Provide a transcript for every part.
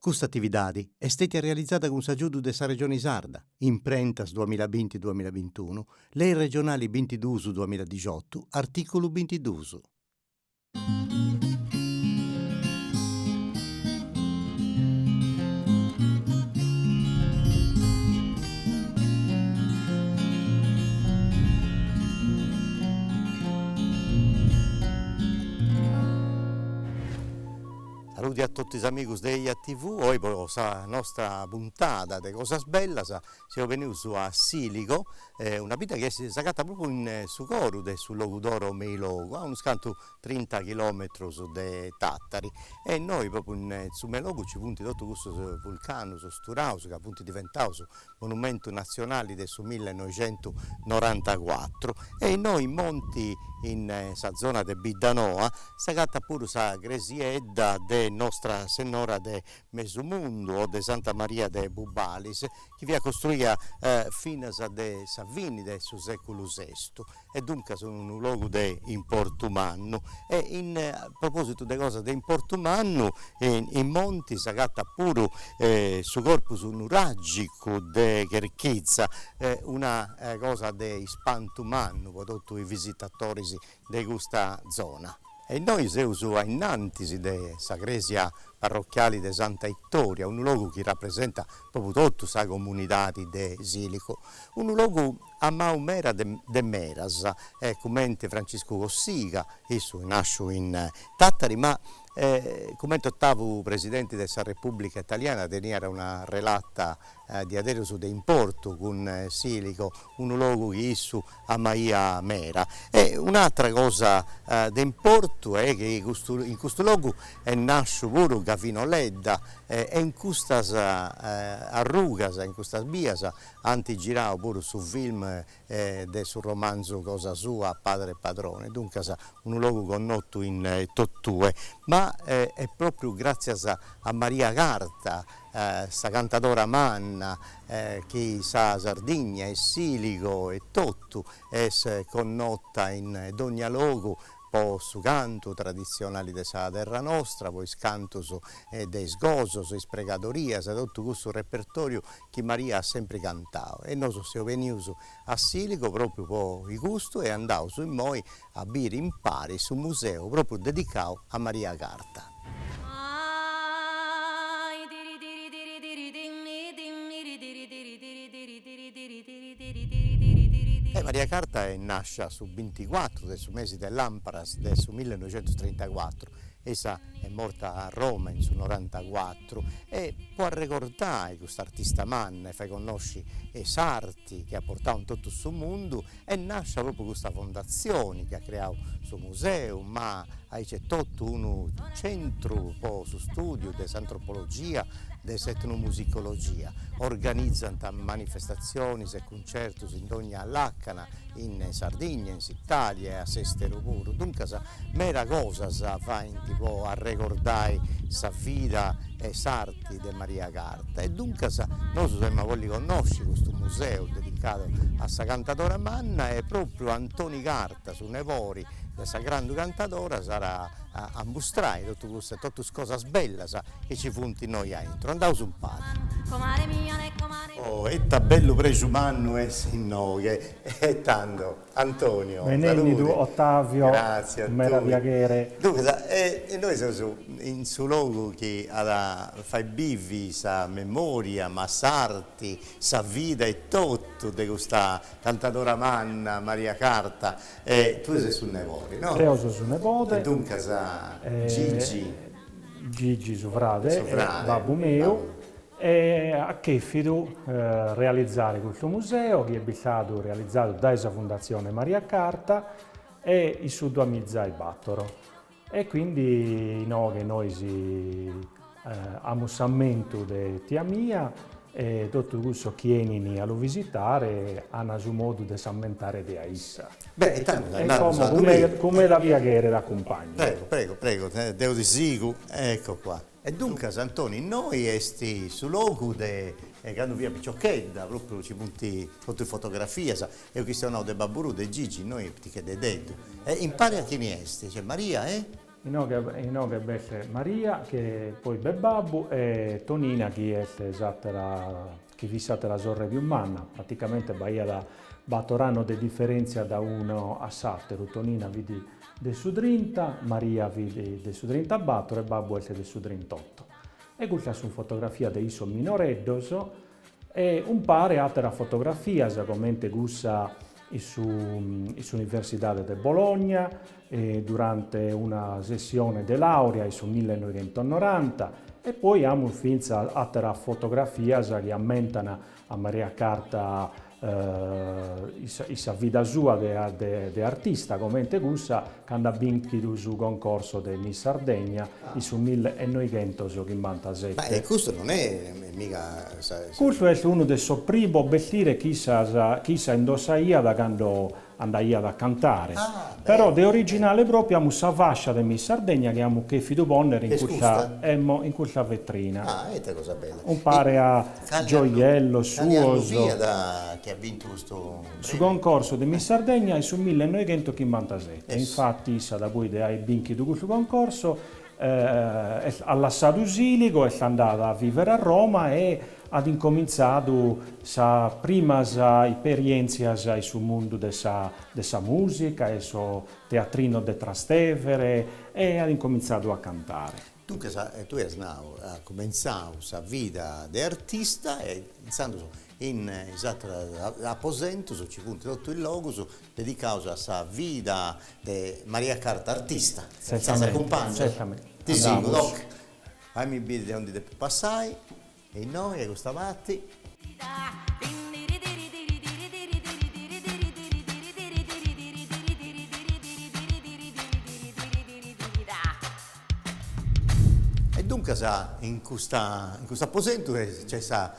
Custa atividadi est stètia realizada cun s'agiudu de sa Regioni Sarda, Imprentas duamilla binti duamilla bintunu, Lei Regionali bintiduus duamilla dixotu, artìculu bintiduus. Saluti a totu is amigus de Eia TV, oi po sa nostra puntada de cosas bellas seus benius a Siligo, una bidda chi est, s'agatat propriu in su coru de su Logudoro Meilogu, a unus cantu trinta chilometrus de Tattari, e innoi propriu in su Meilogu nci funt totus custus vulcanus sturaus ca funt diventaus monumentu natzionali de su millenoixentusnorantacuatru, e innoi in monti in sa zona de Biddanoa s'agatat puru sa cresiedda de Nostra Sennora de Mesu Mundu o de Santa Maria de Bubalis, chi fiat costruida finas de sa fini de su seculu sestu, e duncas in unu logu de importu mannu e in propositu de cosas de importu mannu in monti s'agatat puru su corpus nuragicu de Cherchiza una cosa de ispantu mannu pro totu is visitatoris de custa zona. E innoi seus ainnantis de sa cresia parrochiali de Santa Itoria, unu logu chi rapresentat pròpriu totu sa comunidadi de Siligo, unu logu amau mera de meras e cumenti Franciscu Cossiga, issu nasciu in Tàtari ma cumenti otavu Presidenti de sa Repùblica Italiana teniat una relata diaderus de importu cun Siligo, unu logu chi issu amaia mera. E un'atra cosa de importu est chi in custu logu est nasciu puru Gavino Ledda e in custas arrugas, in custas bias Ant giradu puru su film de su romanzu cosa sua Padre Padrone, duncas unu logu connotu in totue, ma est pròpriu gràtzias a Maria Carta, sa cantadora manna, chi sa Sardigna e Siligo etotu est connota in dònnia logu po su cantu traditzionali de sa terra nostra, po is cantus de is gosos, is pregadorias, totu cussu repertòriu chi Maria at sempri cantau e nosu seus benius a Siligo propriu po custu e andaus immoi a biri impari su museu propriu dedicau a Maria Carta. Maria Carta est nascia su binticuatru de su mesi de lamparas de su millenoixentustrintacuatru e issa est morta a Roma in su norantacuatru Pietru e po arregordai cust'artista manna e fai connosci' s'arti chi at portau in totu su mundu est nàscia propriu custa fondatzioni chi at creau su museu ma aici est etotu unu centru po su stùdiu de s'antropologia de s'etnomusicologia organizant manifestatzionis e certos in dogna làcana in Sardigna, in s'Italia e a s'esteru puru, duncas meda cosas faint po arregordai sa vida e s'arti de Maria Carta e duncas nosu semus a bolli connosci custu museu dedicadu a sa cantadora manna e propriu Antoni Carta, su nebodi de sa grandu cantadora sarà a ammustrare totu custas cosas bellas chi ci funt innoi a intro, andaus umpare. Oh, ita bellu prexu mannu est innoi, e tando, Antonio, salude. Benennidu Ottavio, cun meda piaghere. Duncas, innoi seus in su logu chi at a fai bivi sa memoria, ma s'arti, sa vida etotu de custa cantadora manna, Maria Carta, e tue ses su nebodi, no? Deo seu su nebodi. E duncas, Gigi. Gigi su frade est babbu meu e at chèrfidu realizare custu museo chi est bistadu realizadu dae sa Fundatzione Maria Carta e in su duamiza e battoro e quindi inoghe nois amus s'ammentu de tia mia e totu cussos chi 'enint a lu visitare ant su modu de s'ammentare de issa. Beh, e tando dai nadu sa dumìa. Como era via chèrere a cumpagnu. Prego, prego, prego, deo ti sigu, ecco qua. E duncas, Antoni, innoi est su logu de candu fia piciochedda, pròpriu ci funt totu is fotografias, eus chistionau de babbu tuu, de Gigi, innoi, piticcheddededdu. E impari a chini est? Maria e? Inoghe b'est Maria e poi b'est babbu e Tonina chi est s'àtera, chi fit s'àtera sorre pius manna, praticamente b'aiat batoro annos de diferèntzia dae unu a s'àteru, Tonina fit de su trinta, Maria fit de su trintabatoro e babbu est de su trintotto. E custas sunt fotografias de issos minoreddos E umpare àteras fotografias, comente cussa in su in s'Universidade de Bologna, durante una sessione de làurea in su millenoighentosnoranta, e poi amus fintzas àteras fotografias chi ammentan a Maria Carta in sa vida sua de artista comente cussa cando at bìnchidu su concorso de Miss Sardegna in su mille e noighentos chimbantasete. Ma custu non est mega sa. Custu est unu de sos primos bestires chi issa indossaiat cando Andaiat a cantare. Però de originale pròpiu amus sa fascia de Miss Sardegna chi amus chèfidu pònnere in custa, emmo, in custa vetrina. Ah, e ite cosa bella. Umpare a gioiellos suos. Cale annu fiat chi at bintu custu prèmiu? Su concorso de Miss Sardegna est su millenoighentoschimbantasete, e infati issa dapoi de aer bìnchidu custu concorsu At lassadu Siligo, est andada a vivere a Roma e at incomintzadu sas primas isperientzias in su mundu de sa de sa musica in sos teatrinos de Trastevere e at incomintzadu a cantare. Duncas tue as nau at cumentzau sa vida de artista e intzandus in is ateras aposentus nci funt totu is logus Dedicaus a sa vida de Maria Carta artista. Bos acumpanzo. Ti sigo, ok. Fai mi biri de aundi depu passai e innoi e custa parti. E duncas in custa in custu aposentu nc'est sa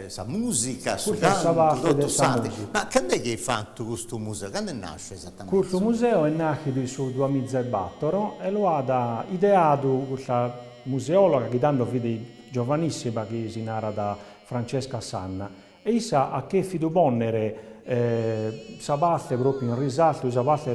Sa musica, su cantu, totu s'atru. Ma cando est chi est fatu custu museu? Cando est nàsciu esatamente? Custu museu est nàchidu in su duamiza e bàtoro e lu at ideadu custa museòloga chi tando fit giovanissima chi si narat Francesca Sanna e issa at chèfidu pònnere sa parte pròpriu in risaltu sa parte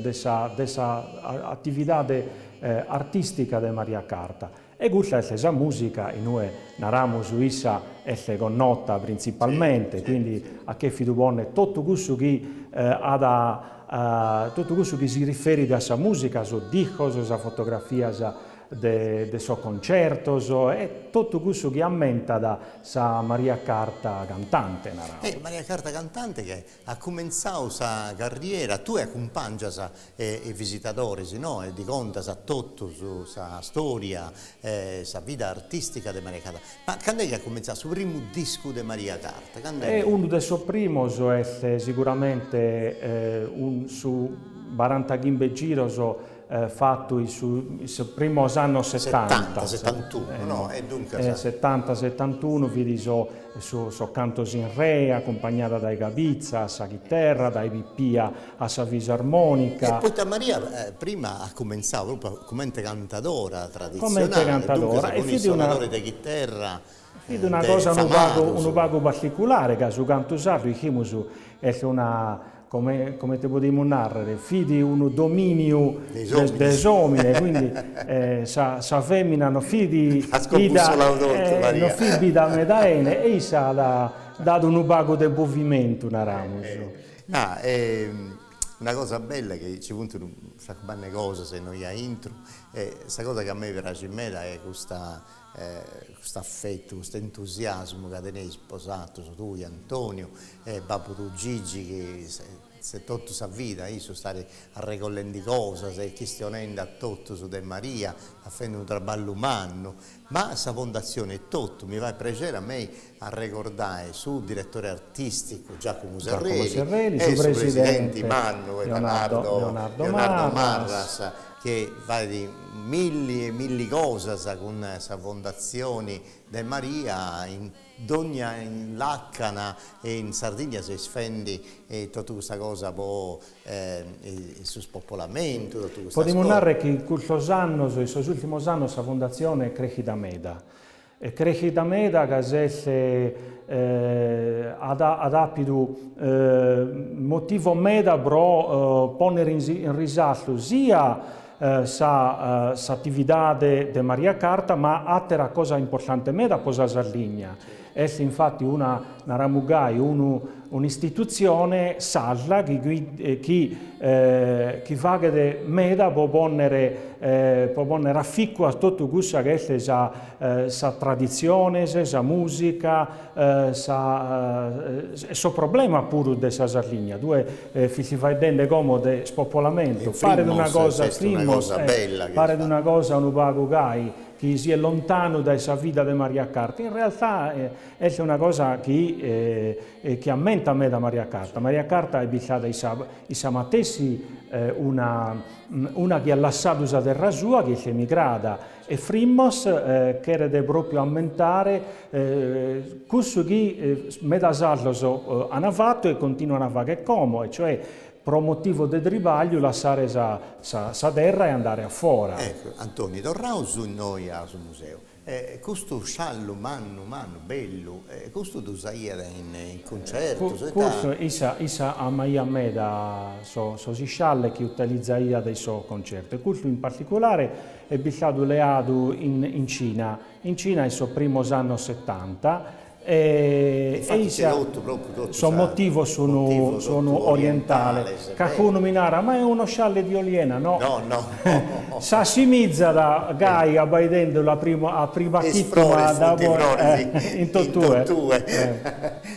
de sa atividade artìstica de Maria Carta. E custa est sa mùsica, in ue naramus issa est connota printzipalmente, quindi at chèfidu pònnere totu cussu chi at a totu cussu chi si riferit a sa mùsica, sos discos, sas fotografias de de sos concertos e totu cussu chi ammentat sa Maria Carta cantante, naramus. Ecco, Maria Carta cantante chi At cumentzadu sa carriera, tue acumpangias is visitadores innoe, ddis contas a totus sa storia e sa vida artistica de Maria Carta. Ma cand'est chi at cumentzadu su primu discu de Maria Carta? Cand'est chi. Unu de sos primos est siguramente su barantachimbe giros fatu in is primos annos setanta, setanta setantunu, fit sos cantos in re, acumpangiada dae Gavizza a sa chiterra, dae Pippia a sa fisarmonica. E poita ca Maria prima at cumentzadu propriu comente cantadora traditzionale, duncas cun is sonadores de chiterra? Fit una cosa unu pagu unu pagu particulare ca su cantu sardu ischimus est una come comente podimus narrer fit unu domìniu de s'òmine e quindi sa sa femina non fit ida non fit bida meda 'ene e issa at dadu unu pagu de movimentu naramus. Est una cosa bella chi ci funt tantas cosas innoi aintru e sa cosa chi a mei praxit meda est custa E cust'affettu, cust'entusiasmu ca teneis bosatus, tui Antoniu e babbu tuu Gigi chi s'est totu sa vida a issu stari arregollendi cosas e chistionendi a totus de Maria, a fendi unu traballu mannu, ma sa fondatzioni etotu mi fait prexeri a mei arregordai su diretore artìsticu Giacomo Serreli e su presidenti mannu e Leonardo Leonardo Marras chi faint milli e milli cosas cun sa Fondatzioni de Maria in dogna làcana e in Sardigna seis fendi totu custa cosa po su spopolamentu totu custas cosas. Podimus narrer chi in custos annos in sos ùrtimos annos sa Fondatzioni est crèchida meda Est crèschida meda ca s'est at àpidu motivo meda pro pònnere in risaltu sia s'atividade de Maria Carta ma àteras cosas importantes meda pro sa Sardigna. Est infati una, naramus gai, unu Un'istitutzione, sarda, chi faghet meda pro pònnere a ficu a totu cussa chi est sa traditzione, sa mùsica, sos problemas puru de sa Sardigna, tue fis faeddende como de spopolamentu, paret una cosa, Freemmos, paret una cosa unu pagu gai chi siat lontanu dae sa vida de Maria Carta, in realtà Est una cosa chi chi ammentat meda Maria Carta. Maria Carta est istada issa issa matessi una una chi at lassadu sa terra sua, chi est emigrada e Freemmos cheret propriu ammentare cussu chi meda sardos an fatu e continuan a fagher como e cioè pro motivos de tribagliu lassare sa sa sa terra e andare a fora. Ecco Antoni, torraus innoi a su museu. E custu sciallu mannu mannu, bellu, custu ddu usaiat in cuncertus. Custu, issa, issa amaiat meda sos iscialles chi utilizaiat in sos concertos e custu in particulare est bistadu leadu in Cina, in Cina in sos primos annos setanta, E issa, sos motivos sun orientales, calicunu mi narat, ma est uno scialle di oliena, no? S'assimizat gai abbaidende la prima a priba chituma da in totue,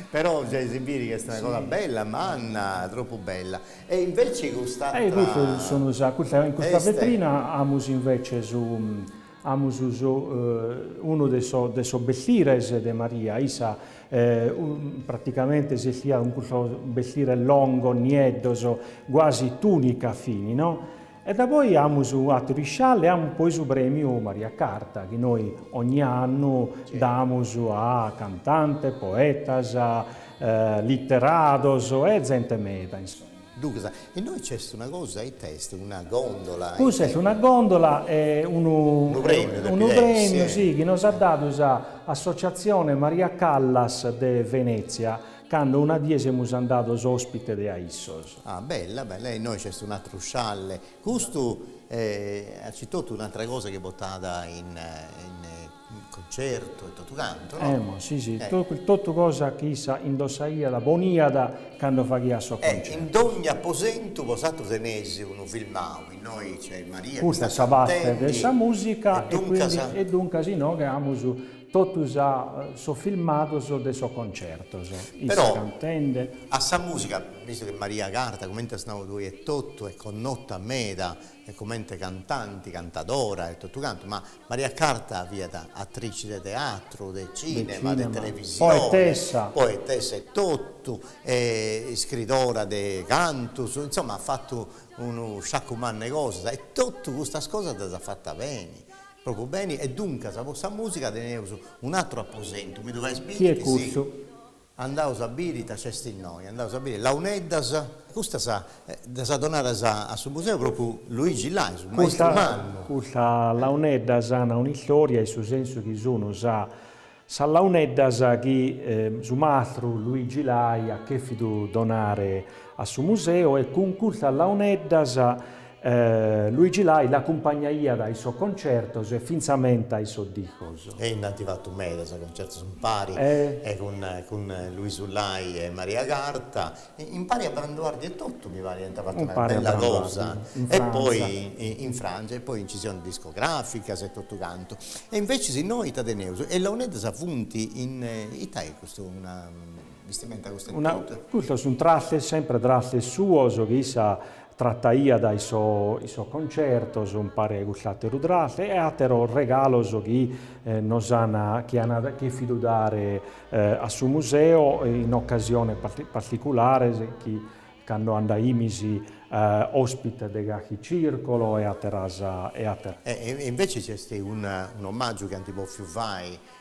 però gei si biri chi est una cosa bella, manna, troppu bella, e invece cust'atra est in custa vetrina amus invece su Amus unu de de sos bestires de Maria, issa praticamente si estiat cun custos bestires longos, nieddos, guasi tùnica finas, no? E da poi amus àteru isciallu e amus poi su prèmiu Maria Carta, chi nois ogni annu damus a cantantes, poetas, literados e zente meda, insoma. Ducas, e innoi nc'est una cosa, ita est, una gondola? Custa est una gondola, est unu Unu premiu depit unu premiu essi, si, chi nos at dadu sa Associazione Maria Callas de Venezia, cando una die nde semus andados ospite de a issos. Ah, bella, bella, e innoi nc'est un'atteru scialle, custu est aici etotu un'attra cosa chi portàt in in Concertu e totu cantu, no? Emmo, si, si, totu cosa chi issa indossaiat poniat cando faghiat sos concertos. E in dogni aposentu po s'atru teneis unu filmau, innoi nc'est Maria chi Custa est sa parte de sa musica e quindi e duncas inoghe amus totu sa sos filmados de sos concertos, issa cantende. Po sa musica, visto che Maria Carta, comente as nadu tui etotu, est connota meda comente cantanti, cantadora e totu cantu, ma Maria Carta fiat atrici de teatru, de cìnema, de televisione, poetessa etotu, e iscridora de cantus, insoma at fatu unu sciacu mannu 'e cosas e totu custas cosas ddas at fatas beni, pròpriu beni e duncas po sa mùsica teneus un'aturu aposentu, mi ddu fais biri chi sì. Andaus a biri ita nc'est innoi, andaus a biri launeddas. Custas ddas at donadas a su museu propriu Luigi Lai, su maistru mannu. Custas launeddas ana un'istòria in su sensu chi sun sa sas launeddas chi su mastru Luigi Lai at chèfidu donare a su museu e cun custas launeddas Luigi Lai l'acumpanjaiat in sos concertos e fintzamentas in sos discos. E nd'ant fatu medas concertos impari e cun Luisu Lai e Maria Carta, impari a Branduardi etotu mi parit ant fatu una bella cosa e poi in Frantza e poi nci siant discografias e totu cantu. E inveces innoi ita teneus? E launeddas funt in, ita est custu, una bistimenta custa etotu? Custos sunt trastes, sempre trastes suos chi issa Trataiat in sos concertos, umpare a custu àteru traste e àteros regalos chi nos ant chi ant chèfidu dare a su museu in ocasiones particulares chi cando andaimis òspites de carchi circolo e àteras. E invece nc'est un'omàgiu chi ant bòfiu fai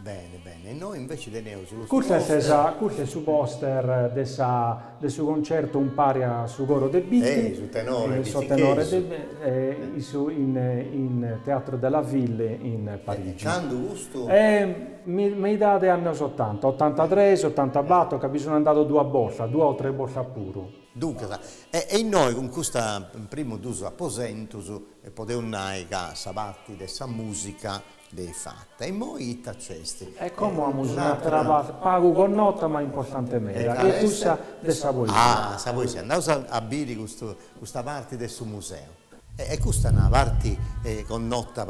Bene, bene. Innoi invece teneus is poster. Custu est su poster de su de su concerto umpare a su coro de Bitti. Eh, su tenore Bitti chi sun in su, in Théâtre de la Ville in Parigi. E candu custu? Meidade de annos otanta, otantatres, otantabattor, ca bi sun andadu duas bortas, duas o tres bortas puru. Duncas, e innoi cun custus primus dus aposentus podeus nai ca sa parti de sa musica est fata. Immoi ita nc'est? E como amus una trata pagu connota ma importante meda, chi est cussa de sa poesia. Ah, sa poesia. Andaus a biri custu custa parti de su museu. E custa est una parti connota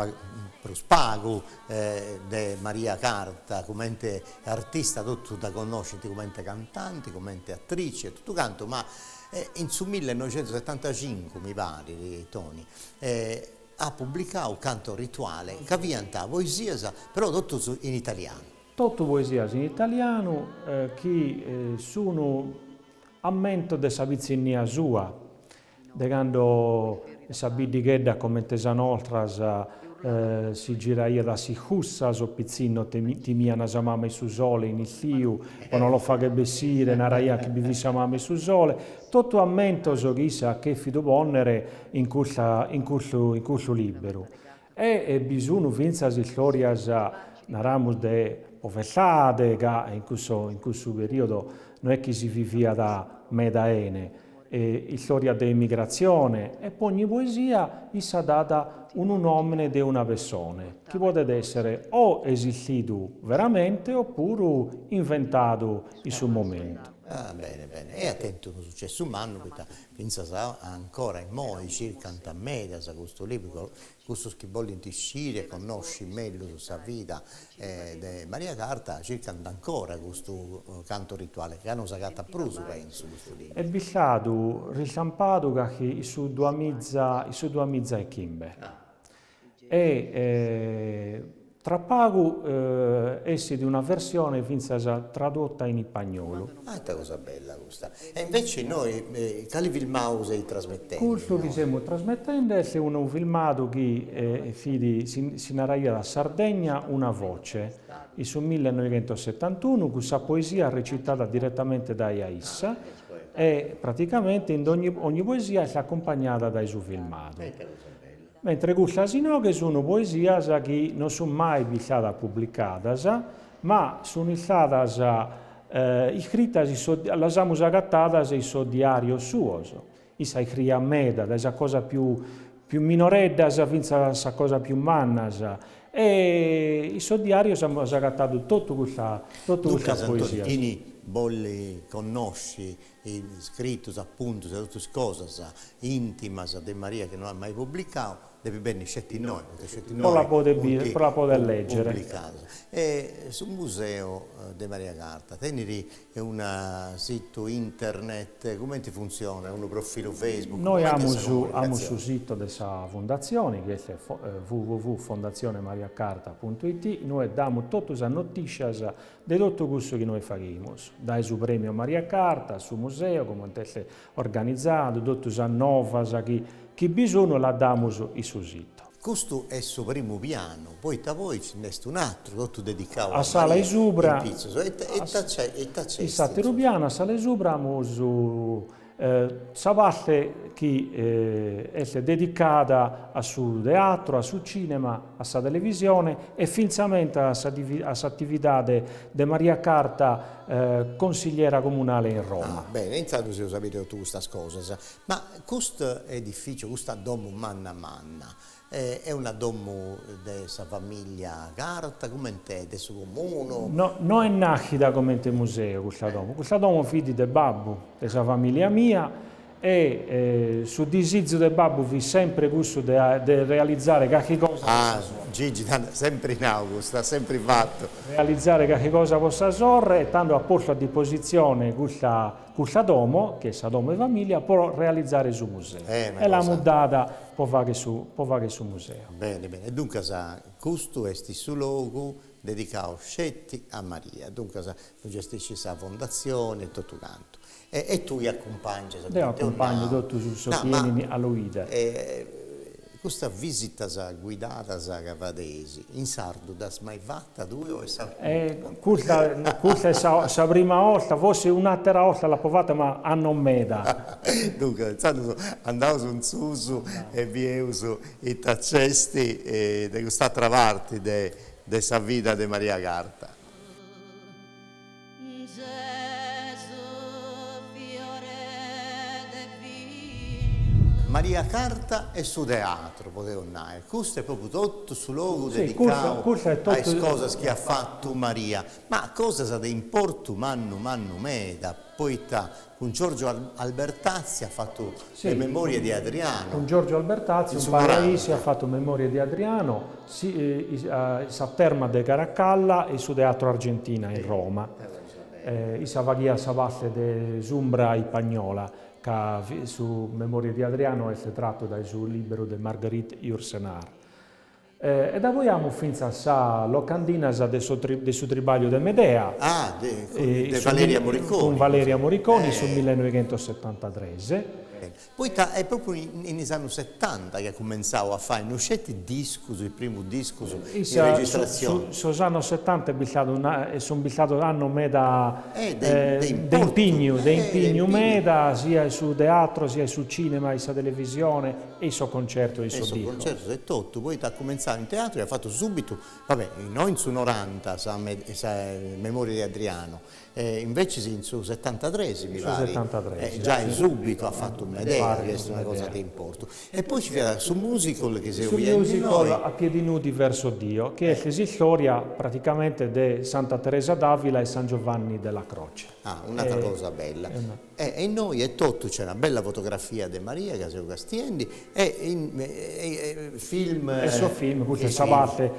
prus pagu de Maria Carta cumenti artista, totus dda connoscint cumenti cantanti, cumenti atrici e totu cantu, ma in su millenoixentusetantacincu mi parit, Toni, at publicadu Canto rituale, ca fiant poesias, però totus in italianu. Totu poesias in italianu chi sun ammentos de sa pitzinnia sua, de cando sa biddighedda comente sas nostras si giraiat a s'iscurtza, sos pitzinnos timian sa mama 'e su sole in istiu po no los fagher bessire, naraian chi bi fit sa mama 'e su sole, Totu ammentos chi issa at chèfidu pònnere in custa in custu in custu lìberu. E bi sun fintzas istòrias, naramus, de povertade, ca in cusso in cussu perìodu no est chi si viviat meda 'ene, e istòrias de emigratzione, e po ogni poesia issa dat unu nòmene de una pessone, chi podet èssere o esistidu veramente opuru inventadu in su momentu. Ah, bene, bene. E at tentu unu sucessu mannu, poita fintzas ancora immoi circant medas custu libru cussus chi bolint sciri e connosci mellus sa vida de Maria Carta circant ancora custu Canto rituale, ca non s'agatat prus, pentzu, custu libru. Est bistadu ristampadu carchi in su duamiza in su duamiza e chimbe. e tra pagu essit una versione fintzas tradotta in ipagnolu. Ah ite cosa bella custa. E invece innoi cali filmadu seit trasmetendi innoi? Custu chi semus trasmetendi est unu filmadu chi si naraiat Sardegna una voce, in su millenoighentosetantunu cun sa poesia recitada diretamente dae a issa e praticamente in dogni, ogni poesia est accumpagnada dae su filmadu. E ite cosa bella. mentre custas inoghe sunu poesias chi no sun mai bistadas publicadas, ma sun istadas iscritas in sos, las amus agatadas in sos diarios suos, issa iscriiat meda, dae sas cosas pius minoreddas fintzas a sas cosas pius mannas, e in sos diarios amus agatadu totu custa, totu custas poesias. Duncas Antonio, chini bollit connosci is scritus apuntus e totus is cosas intimas de Maria chi no at mai publicau, depit benni sceti innoi po ddas podi lègere. E su Museu de Maria Carta tenit unu situ internet, cumenti funtzionat, unu profilu Facebook, cumenti est sa comunicazioni? Nois amus su situ de sa fundatzione chi est www.fondazionemariacarta.it, nois damus totu sas notìtzias De totu cussu chi nois faghimus, dae su Premiu Maria Carta a su Museu coment'est organizadu, totu sas novas chi chi bi sunu las damus in su situ. Custu est su primu pianu, poita poi nci nd'est un'atru, totu dedicau a Maria, in pitzus, e ita nc'est in su. In s'ateru pianu, a s'ala 'e subra, amus Sa parte chi est dedicada a su teatru, a su cìnema, a sa televisione e fintzamente a s'atividade de Maria Carta, consigliera comunale in Roma. Ah, bene, intzandus eus a bìdere totu custas cosas. Ma custu edifìciu, custa domu manna manna, Est una domu de sa famìllia Carta, comente de su Comunu? No, est nàschida comente museu custa domu. Custa domu fit de babbu de sa famìllia mia e su disizu de babbu fit semper cussu de de realizare carchi cosa po sa sorre. Ah, Gigi, at semper nau custu, at semper fatu. Realizare carchi cosa po sa sorre e tando at postu a dipositzione custa Custa domo, chi est sa domo 'e famìlia, pro realizare su museu. E l'amus dada pro fagher su pro fagher su museu. Bene, bene. E duncas custu est su logu dedicadu sceti a Maria. Duncas lu gestiscit sa fondatzione e totu cantu. E tue acumpangias, deo acumpangiu totus sos chi 'enint a lu 'idere. Custas visitas guidadas chi fadeis, in sardu dd'as mai fata tue o est sa prima? Custa custa est sa sa prima 'orta, forsis un'àtera 'orta l'apo fata ma annos meda. Duncas, intzandus andaus in susu e bieus ita nc'est de cust'àtera parti de de sa vida de Maria Carta. Maria Carta e su teatru, podeus nai, custu est propriu totu su logu dedicau a is cosas chi at fatu Maria, ma cosas de importu mannu mannu meda, poita Cun Giorgio Albertazzi at fatu Le memorie di Adriano. Cun Giorgio Albertazzi umpare a issu at fatu Memorie di Adriano, sas termas de Caracalla e su Teatro Argentina in Roma. Issa faghiat sa parte de S'umbra ispagnola, ca su Memorie di Adriano est tratu dae su lìberu de Marguerite Yourcenar. E nde amus fintzas sa locandina de su de su tribagliu de Medea. Ah, de de Valeria Moriconi. Cun Valeria Moriconi in su millenoighentosetantatres. Poita est propriu in is annus setanta chi at cumentzau a fai no sceti discus, is primus discus in registratzioni. Sos annus setanta est bistadu sun bistados annos meda de impignu, de impignu meda, sia in su teatro, sia in su cinema, in sa televisioni E in sos concertos in sos discos. Concertos e totu, poita at cumentzadu in teatru e at fatu subitu, va bene, no in su noranta sa sa Memorie di Adriano, invece in su setantatres mi pari, giai subitu at fatu Medea, chi est una cosa de importu. E poi ci fiat su musical chi seus bidendi innoi. Su musical a piedi nudi verso Dio, chi est s'istória praticamente de Santa Teresa d'Avila e San Giovanni della Croce. Ah, un'atra cosa bella. E innoi etotu nc'est una bella fotografia de Maria ca seu castiendi e is film. E su film, custa est sa parte,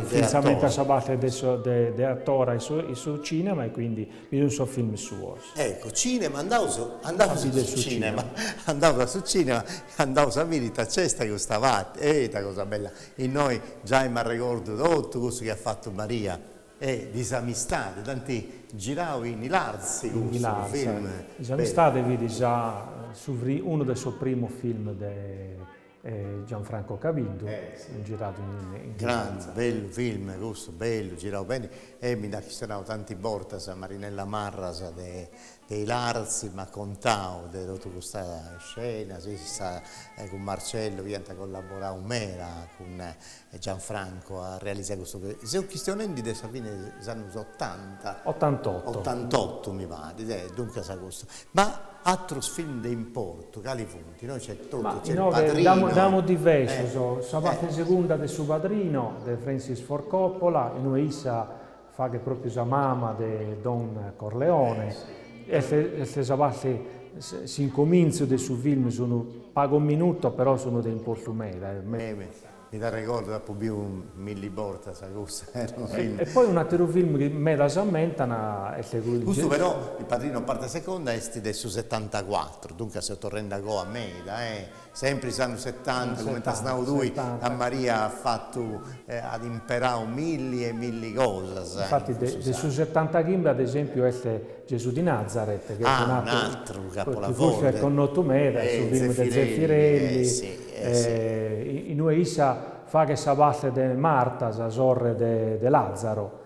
fintzamenti a sa parte de atora in su cinema e quindi bi sun sos film suos. Ecco, cinema, andaus andaus a su cinema, andaus a su cinema e andaus a biri ita nc'est a custa parte, e ita cosa bella, innoi giai m'arregordu totu cussu chi at fatu Maria. E Disamistade dd'ant girau in Ilarzi cussu film Disamistade fit sa su unu de sos primos film de Gianfranco Cabiddu giradu in Ilarzi. Grande bellu film cussu bellu girau beni e mi nd'at chistionau tanti bortas Marinella Marras de De Ilarzi m'at contau de totu custa scena, issa cun Marcello iant collaborau meda cun Gianfranco a realizai custu chi. Seu chistionendi de sa fini de s'annus otanta. Ottantotto. Ottantottu mi parit, e duncas custu. Ma atrus film de importu cali funt? Innoi nc'est totu, nc'est Il Padrino. Ma innoi nd'amus diversus, sa parti segunda de Su Padrino de Francis Ford Coppola, innoi issa Faghet pròpiu sa mama de Don Corleone. Est est sa parte, s'incomintzu de su film, sun pagos minutos però sun de importu meda. Mi dd'arregordo, dd'apo biu milli bortas cussa. E poi un'ateru film chi medas ammentan est cuddu. Custu però, Il padrino parte seconda, est de su setantacuàturu, duncas seu torrendi a goa meda. Sempri is annus setanta, cumenti as nau tui, Maria at fatu, at imperau milli e milli cosas. Infati de su setantachimbe ad esempiu est Gesù di Nazaret, chi est un atru, chi custu est connotu meda, est su filmu de Zeffirelli, in ue issa faghet sa parte de Marta, sa sorre de Làzaro.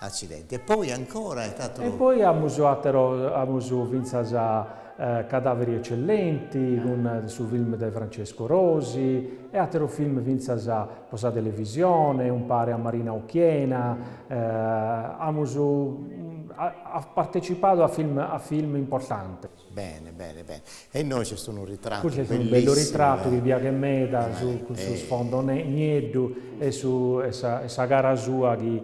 Accidenti. E poi ancora est ateru. E poi amus ateru, amus fintzas Cadaveri eccellenti cun su film de Francesco Rosi e ateru film fintzas po sa televisione, umpare a Marina Occhiena, amus partetzipadu a film a film importantes. Bene bene bene e innoi nc'est unu ritrattu bellissimu. Cussu est unu bellu ritrattu chi piaghet meda cussu sfondo nieddu e su e sa e sa cara sua chi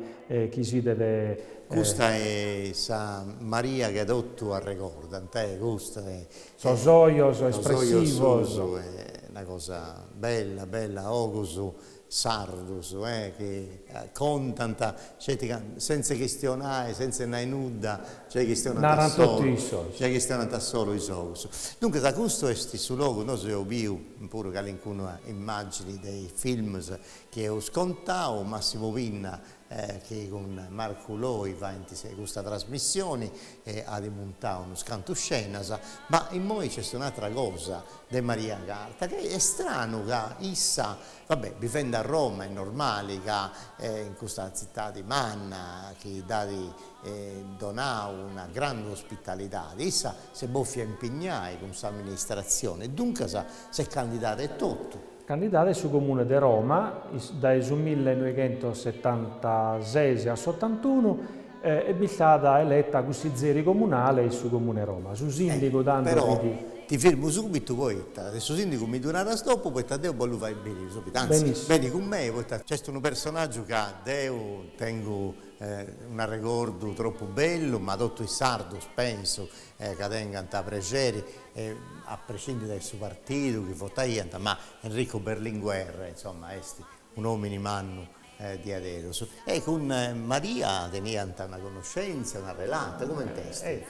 chi sidet. Custa est sa Maria chi totu arregordant e custa e sos ojos espressivos. Sos ojos suos e una cosa bella bella ojos sardos eh chi contant sceti ca sentz'e chistionai sentz'e nai nudda giai chistionant a Narant totu solu issos. giai chistionant a solu is ogus duncas custu est su logu nosu eus biu puru calincuna immagini de is films chi eus contau Massimo Pinna e chi cun Marcu Loi faint custa trasmissioni e at muntau unus cantus scenas, ma immoi nc'est un'atra cosa de Maria Carta chi est stranu ca issa, va bè, bivend' a Roma est normali ca in custa tzitadi manna chi dd'at donau una grandi ospitalidadi issa s'est bòfia impignai cun s'amministratzioni e duncas s'est candidada etotu, Candidada in su Comune de Roma dae su millenoighentosetantases a s'otantunu, e b'est istada eleta cussizeri comunale in su Comune 'e Roma. Su sìndigu tando Però fit. ti firmu subitu poita de su sìndigu mi ddu naras dopu poita deu bollu fai biri subbitu, anzi Benissimo. beni cun mei poita nc'est unu personaggiu ca deu tengu un'arregordu tropu bellu, ma totu is sardus pensu ca tengant prexeri a prescindi dae su partidu chi votaiant, ma Enrico Berlinguer insomma est un'omini mannu diaderus. E cun Maria teniant una connoscenza, una relata, comente est?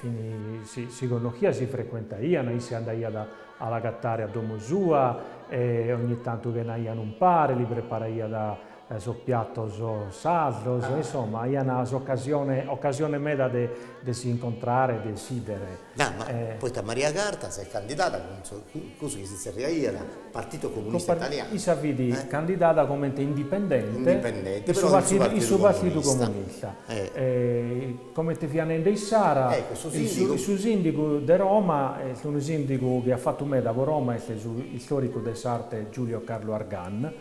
Si connoschiant, si frecuentaiant, issa andaiat a l'agatare a domo sua e ogni tantu chenaiat umpare, li preparaiat sos piatos sardos, insoma aiant s'ocasione, ocasione meda de de si incontrare e de si bìdere. Eja, poita Maria Carta s'est candidada cun su, cussu chi si zerriaiat Partito Comunista Italiano. Issa fit candidada comente indipendente in su Partidu Partidu Comunista, comente fiat nende issara, su sìndigu de Roma, est unu sìndigu chi at fatu meda pro Roma, est su istoricu de s'arte Giulio Carlo Argan,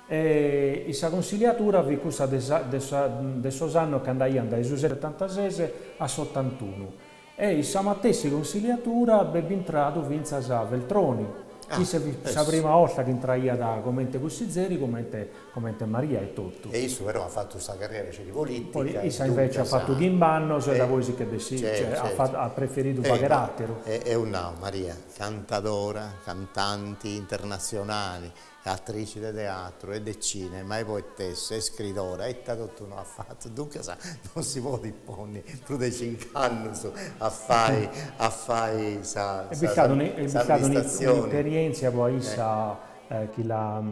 E in sa Consiliatura fit cussa de sos annos chi andaiant dae su setantases a s'otantunu. E in sa matessi Consiliatura bi est intradu fintzas Veltroni, chi fit sa prima 'olta chi intraiat comente cussizeri, comente Maria etotu. E issu però at fatu sa carriera de polìtica. Poi issa invece at fatu chimb'annos e dapoi si nch'est bessida, at preferidu fagher àteru. Eus nau, Maria, cantadora, cantanti internatzionali, Atrici de teatru e de cinema e poetessa e scridora, ita totu no at fatu, duncas non si podit ponni prus de cinc'annus a fai a fai sa Est istada est istada un'esperièntzia po a issa chi l'at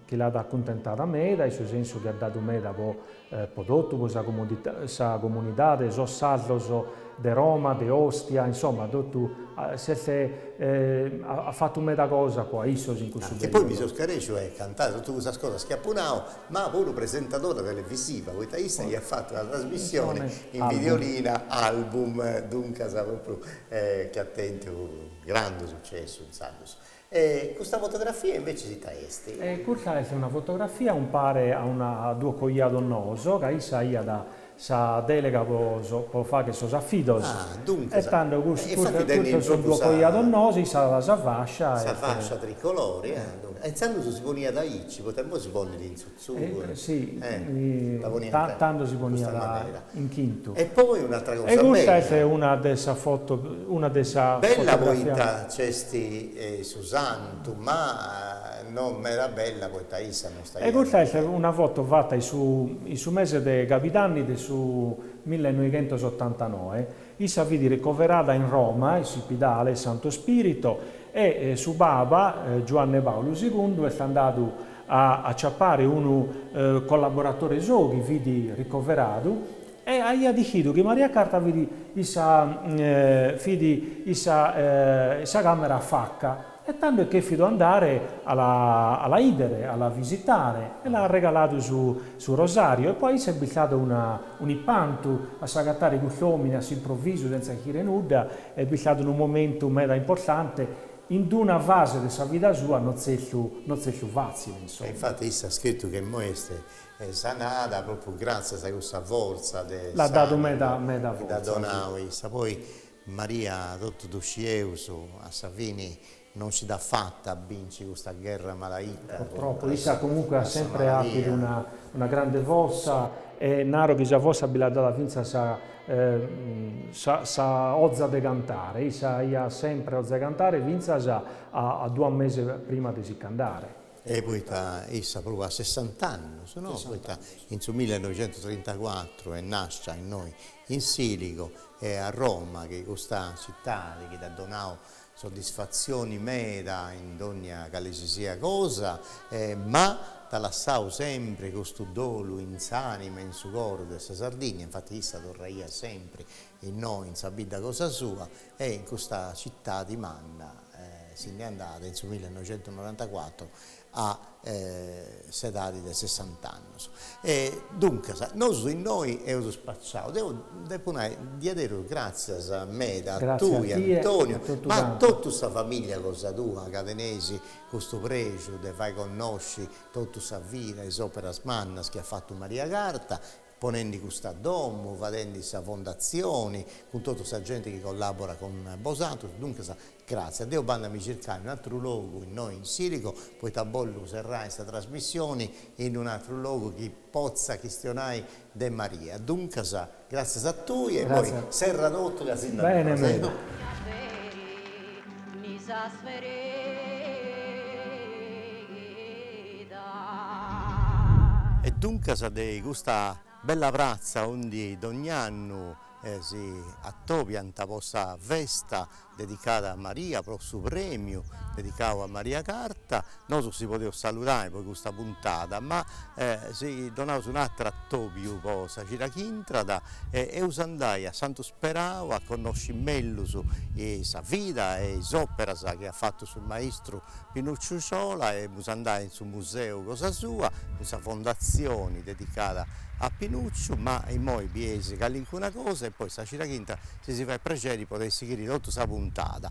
chi l'at acuntentada meda in su sensu chi at dadu meda po po totu, po sa sa comunidade, sos sardos de Roma, de Ostia, insomma totu, s'est at fatu meda cosa po a issos in cussu periodu. E poi mi seu scarèsciu de contai totu cussas cosas chi apo nau, ma puru presentadora televisiva, poita issa iat fatu una trasmissione in Videolina, Album, duncas propriu chi at tentu grandu successu intzandus. E custa fotografia invèciis ita est? Custa est una fotografia umpare a unu duos coiados noos, ca issa aiat sa dèlega po po fagher sos afidos. Ah, duncas. E tando cus E infati tenit custos son duos coiados noos, issa at sa fascia est. Sa fascia tricolore, ah, duncas. E intzandus si poniat aici, poita imoi si ponit in su tando si poniat in chintu. E poi un'atra cosa bella. E custa est una de sa foto, una de sa fotografia. Bella poita nc'est su santu, ma no meda bella poita issa no istaiat. E custa est una foto fata in su mese de cabidanni de su millenoighentosottantanoe, Issa fit ricoverada in Roma, in s'Ispidale 'e Santu Spirito, e su Papa Giuanne Paulu segundu est andadu a aciapare unu collaboratore sou chi fit ricoveradu e aiat dichidu chi Maria Carta fit issa fit issa in sa camera afaca. E tando est chèfidu andare a la a la 'iddere, a la visitare, e l'at arregaladu su su rosàriu, e pro issa est istadu una un'ipantu a s'agatare custu òmine a s'improvisu sentza ischire nudda, est istadu unu momentu meda importante in d-una fase de sa vida sua no tzertu no tzertu fàtzile, E insoma. infati issa at scritu ca imoi est sanada propriu gràtzias a cussa fortza de L'at dadu s'ànimu meda meda chi dd'at fortza, si. donau issa, poi Maria totu ddu scieus, a sa fini non nci dd'at fata a binci custa gherra malaita contra a sa maladia. E naro chi sa forsa bi l'at dada fintzas sa oza de cantare, issa aiat semper oza 'e cantare fintzas a duas meses prima de si ch'andare. E poita issa puru a sessant'annus, no, poita in su millenoixentusotrintacuatru est nàscia innoi In Siligo e a Roma chi custa citadi chi dd'at donau soddisfatzioni meda in dònnia cale si siat cosa e ma dd'at lassau sempri custu dolu in s'ànima e in su coru de sa Sardìnnia, infati issa torraiat sempri innoi in sa bidda cosa sua e in custa citadi manna si ndi andàt in su millenoixentusnorantacuatru a s'edadi de sessant'annus e duncas nosu innoi eus spaciau, deu depu nai diaderus gràtzias meda a tui Antoniu, ma a totu sa familia cosa tua ca teneis custu prexu de fai connosci totu sa vida, is operas mannas chi at fatu Maria Carta ponendi custa domu, fadendi sa fondatzioni, cun totu sa genti chi collaborat cun bosantrus, duncas gràtzias. Deu bandu a mi circai unu atru logu innoi in Siligo, poita bollu serrai sa trasmissioni in unu atru logu chi potza chistionai de Maria. Duncas, gràtzias a tui e immoi serra totu ca si nd'at nosu. E duncas de custa bella pratza aundi dogn'annu si atobiant po sa festa dedicada a Maria, pro su premiu dedicadu a Maria Carta, nosu si podeus saludai po custa puntada, ma si donaus un'ateru atobiu po sa cida chi intrat e eus andai a Santu Imperau a connosci mellus sa vida e is operas chi at fatu su maistru Pinucciu Sciola e emus andai in su museu cosa sua, in sa fondatzioni dedicada a Pinucciu, ma immoi bieis calincuna cosa e poi sa cida chi intrat si si fait prexeri podeis sighiri totu sa puntada.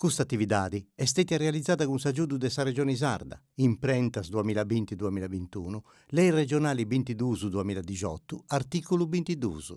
Custa atividadi est stètia realizada cun s'agiudu de sa Regioni Sarda, Imprentas duamilla binti duamilla bintunu, Lei Regionali bintiduus duamilla dixotu, artìculu bintiduus.